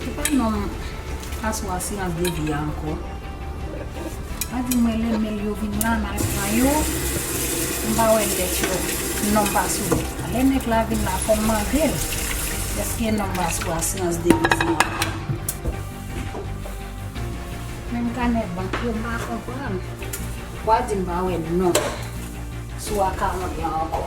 Se pa nom paswa silans de vi a anko. Pa di mwen renmenl yo vin la mal pran yo. M pa wè lèt yo nom paswa. Lè nèg la vin la fom mandel eske nom paswa silans de vi sa anko. Menm kanè bank yo m pa konprann. Wa di m pa wè nom sou akawon yo anko.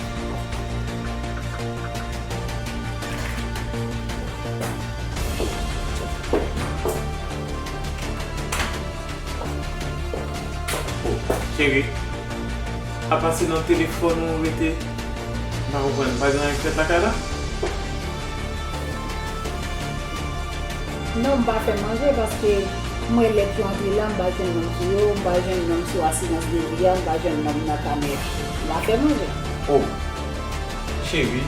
Cheri, apa se nan telefòn ou rete? M pa konprann, pa gen anyen k fèt lakay la? Non, m pa fè manje paske m rele klanvi la, m pa jwenn moun ki yo, m pa jwenn nonm sou asirans de vi a, m pa jwenn nonm nan kameya. Lapè manje. Oh Cheri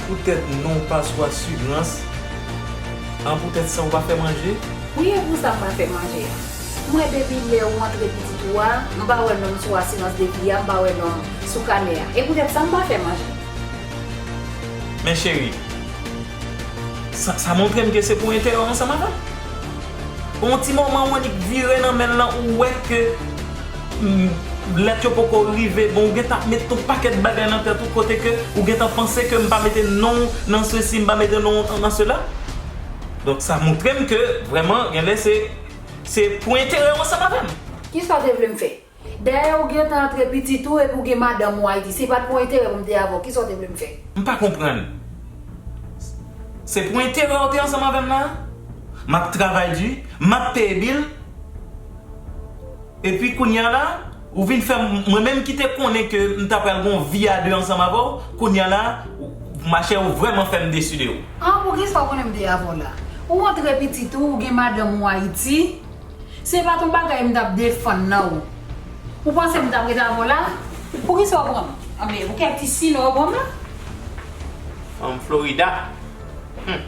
Pou tèt non ou pa swa sugrans an pou tèt sa ou pa fè manje? Wi e pou sa mwen fè manje an. M wè depi lè ou antre pitit ou a m pa wè non m sou asirans de vi a m pa wè non m sou kanè a e pou tèt sa m pa fè manje. Men cheri Sa montre m ke se pou enterè w ansanm avè m. Pou yon ti moman ou annik vire nan men l lan ou wè ke. Humm lèt yo poko rive bon ou gentan ap met tout pakèt bagay nan tèt ou kote ke ou gentan panse ke m pa mete non w nan sesi m pa mete non w nan sela donk sa montre m ke vrèman genlè se se pou enterè w ansanm avè m. Kisa w te vle m fè? Dayè ou gentan antre pitit ou epi ou gen madanm ou Ayiti si pat pou enterè pou m te avè w kisa w te vle m fè? M pa konprann se pou enterè w te ansanm avè m la a? M ap travay di m ap peye bil. Epi kounya la ou vin fè mwen menm ki te konnen ke m ta pral gen yon vi a 2 ansanm avè w, kounya la ma chère ou vrèman fè m desu de ou. An bon kisa w konnen m te avè w la? Ou antre pitit ou, ou gen madanm ou Ayiti, se pat yon bagay m tap defann nan ou. Ou panse m tap ret avè w la? Pou kisa w pran m? Anben pou kèk ti sinon yo pran m la? Fanm Florida? Humm.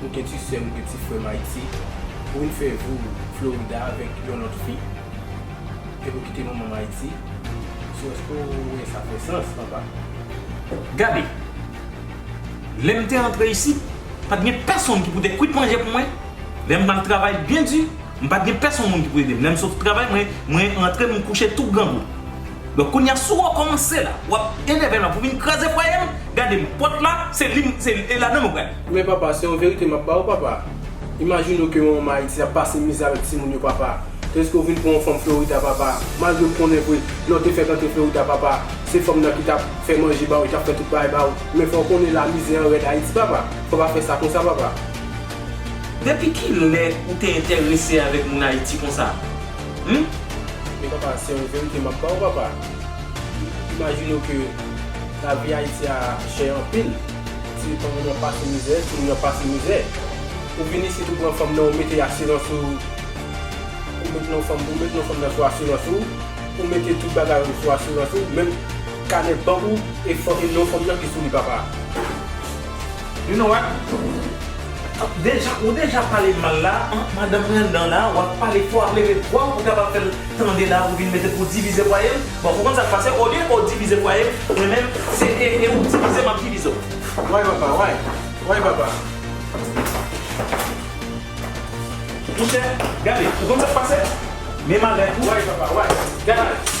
Ou gen ti sèm ou gen ti frèm ayiti pou vin fè vi w florida avèk yon lòt fi epi ou kite manman w ayiti sou èske w wè sa fè sans papa. Gade! Lè m te antre isit, pa t gen pèsonn ki pou te kwit manje pou mwen, lè m t ap travay byen di M pat gen pèsonn moun ki pou edem lèm sot travay mwen mwen rantre m kouche tou grangou donk kounya sou rekòmanse la wap enèvem la pou vin kraze fwayem gadem pòt la se lim se e ladanl ou pral. Men papa se yon verite map ba ou papa imajine w ke yon manman ayiti ap pase mizè avèk timoun yo papa tandiske w vin pran yon fanm florida papa malgre m konnen vre lè w te fèk antre florida papa se fanm nan ki tap fè manje ba ou li tap fè tout bagay ba ou men fò w konnen la mizè an rèd ayiti papa fò pa fè sa konsa papa. Depi ki lè ou te entèrese avèk moun Ayiti konsa? Hum? Men papa se yon verite map baw papa imajinew ke lavi ayiti a chè anpil ti yo tankou nan pase mizè ti moun yo ap pase mizè ou vin isit ou pran fanm nan ou mete asirans ou ou met non fanm ou met non fanm nan sou asirans ou ou mete tout bagay ou sou asirans ou menm kanè bank ou e non fanm nan ki sou li papa. You know what? Deja ou deja pale mal la anh madanm Brandon la wap pale fò ap leve vwa ou pou kapab fèl tande la ou vin mete pou divize fwaye l bon ou konn sak pase olye ou divize fwaye m mwen menm se e e ou divize map divize w. Why papa why why papa. Monchè gade ou konn sak pase men malè pou why papa why gade.